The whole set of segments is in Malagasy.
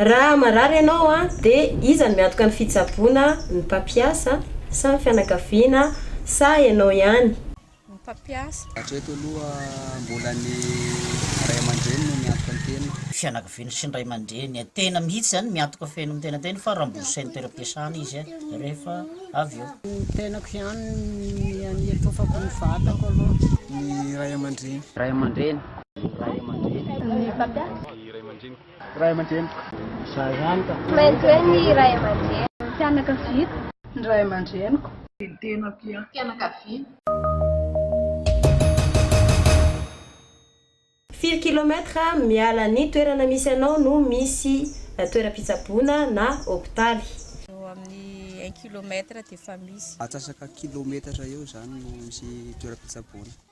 Raha marary ianao dia iza no miantoka ny fitsaboana, ny mpampiasa sa ny fianakaviana sa ianao ihany? Ny mpampiasa. Hatreto aloha mbola ny ray aman-dreny no miantoka ny teniny. Fianakaviany sy ny ray aman-dreny, tena mihitsy zany miantoka feno ny tenantena fa rembourser ny toeram-piasana izy rehefa avy eo. Ny tenako ihany ny an'iatofako ny vatako aloha. Ny ray aman-dreny. Ray aman-dreny. Ny ray aman-dreny. Ny mpampiasa. Ny ray aman-dreny. Ray aman-dreniko. Izaho ihany ka. Tsy maintsy hoe ny ray aman-dreniko. Ny fianakaviako. Ny ray aman-dreniko. Ny tenako ihany. Fianakaviana. Firy kilomètre miala ny toerana misy anao no misy toeram-pitsaboana na hopitaly? Eo amin'ny un kilomètre dia efa misy. Atsasaka kilometatra eo izany no misy toeram-pitsaboana.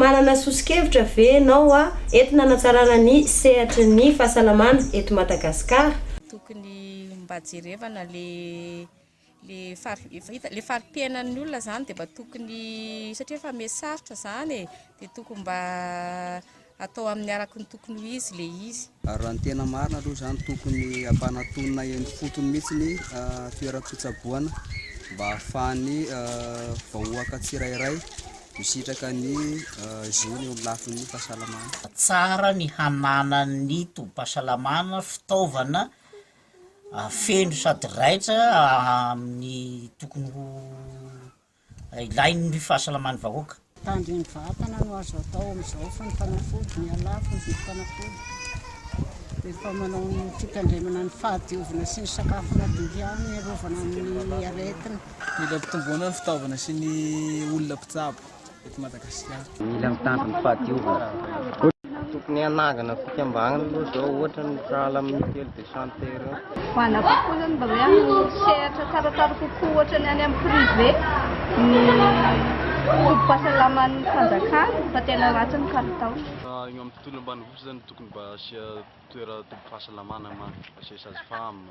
Manana soso-kevitra ve ianao hoa entina hanatsarana ny sehatry ny fahasalamana eto Madagasikara? Tokony mba jerevana le le fari- efa hita le fari-piainan'ny olona zany de mba tokony satria efa me sarotra zany e de tokony mba atao amin'ny araky ny tokony ho izy le izy. Ary raha ny tena marina aloha izany tokony hampanatonina eny fotony mihitsy ny toeram-pitsaboana mba ahafahan'ny vahoaka tsirairay Misitraka ny zony eo amin'ny lafiny fahasalamana. Tsara ny hananan'ny tobim-pahasalamana fitaovana feno sady raitra amin'ny tokony ho ilain'ny fahasalaman'ny vahoaka. Tanjon'ny vatana no azo atao amin'izao fa ny fanafody miha lafo ny vidim-panafody. Rehefa manao ny fitandremana ny fahadiovana sy ny sakafo madio ihany ny hiarovana amin'ny aretina. Mila ampitomboana ny fitaovana sy ny olona mpitsabo eto Madagasikara. Mila mitandro ny fahadiovana. Tokony hanangana fikambanana aloha izao ohatra ny sahala amin'ny mutuelle de santé ireo. Ho ana kokoa zany mba hoe amin'ny sehatra tsaratsara kokoa ohatra ny any amin'ny privé ny tobim-pahasalaman'ny fanjakana fa tena ratsy ny kalitao. Eo amin'ny tontolo ambanivohitra zany tokony mba asia toera tobim-pahasalamana ma, asia sage femme.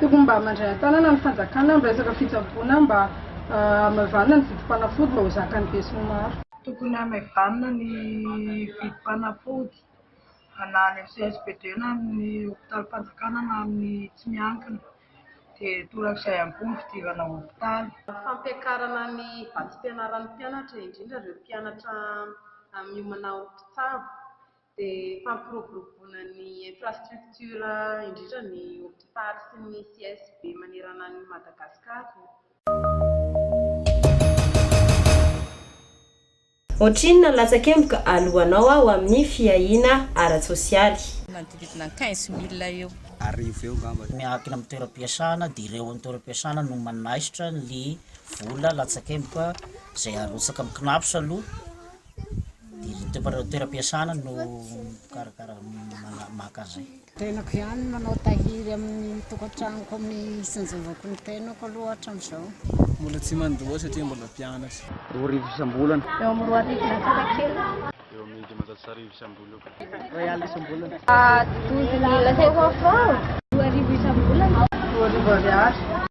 Tokony mba mandray an-tanana ny fanjakana amin'ny resaka fitsaboana mba hamaivanina ny vidim-panafody mba ho zakan'ny besinimaro. Tokony hamaivanina ny vidim-panafody na any amin'ny CSPD na amin'ny hopitalim-panjakana na amin'ny tsy miankina dia torak'izay ihany koa ny fidirana hopitaly. Fampiakarana ny vatsim-pianaran'ny mpianatra indrindra ireo mpianatra miomana ho mpitsabo dia fampiroboroboana ny infrastructure indrindra ny hopitaly sy ny CSB manerana an'i Madagascar. Ohatrinona ny latsakemboka alohanao aho amin'ny fiahiana ara-tsosialy? Manodidididina quinze mille eo. Arivo eo angamba. Miankina amin'ny toeram-piasana dia ireo an'ny toeram-piasana no manaisotra ny vola latsakemboka izay arotsaka amin'ny Cnaps aloha Dia ny toeram-piasana no mikarakara maka an'izay. Tenako ihany no manao tahiry amin'ny tokantranoko amin'ny isan-javako ny tenako aloha hatramin'izao. Mbola tsy mandoa satria mbola mpianatra. Roa arivo isam-bolana. Eo amin'ny roa arivo latsaka kely. Eo amin'ny dimanjato sy arivo isam-bolana. Iray alina isam-bolana. Douze mille cinq cents francs. Roa arivo isam-bolana. Roa arivo ariary.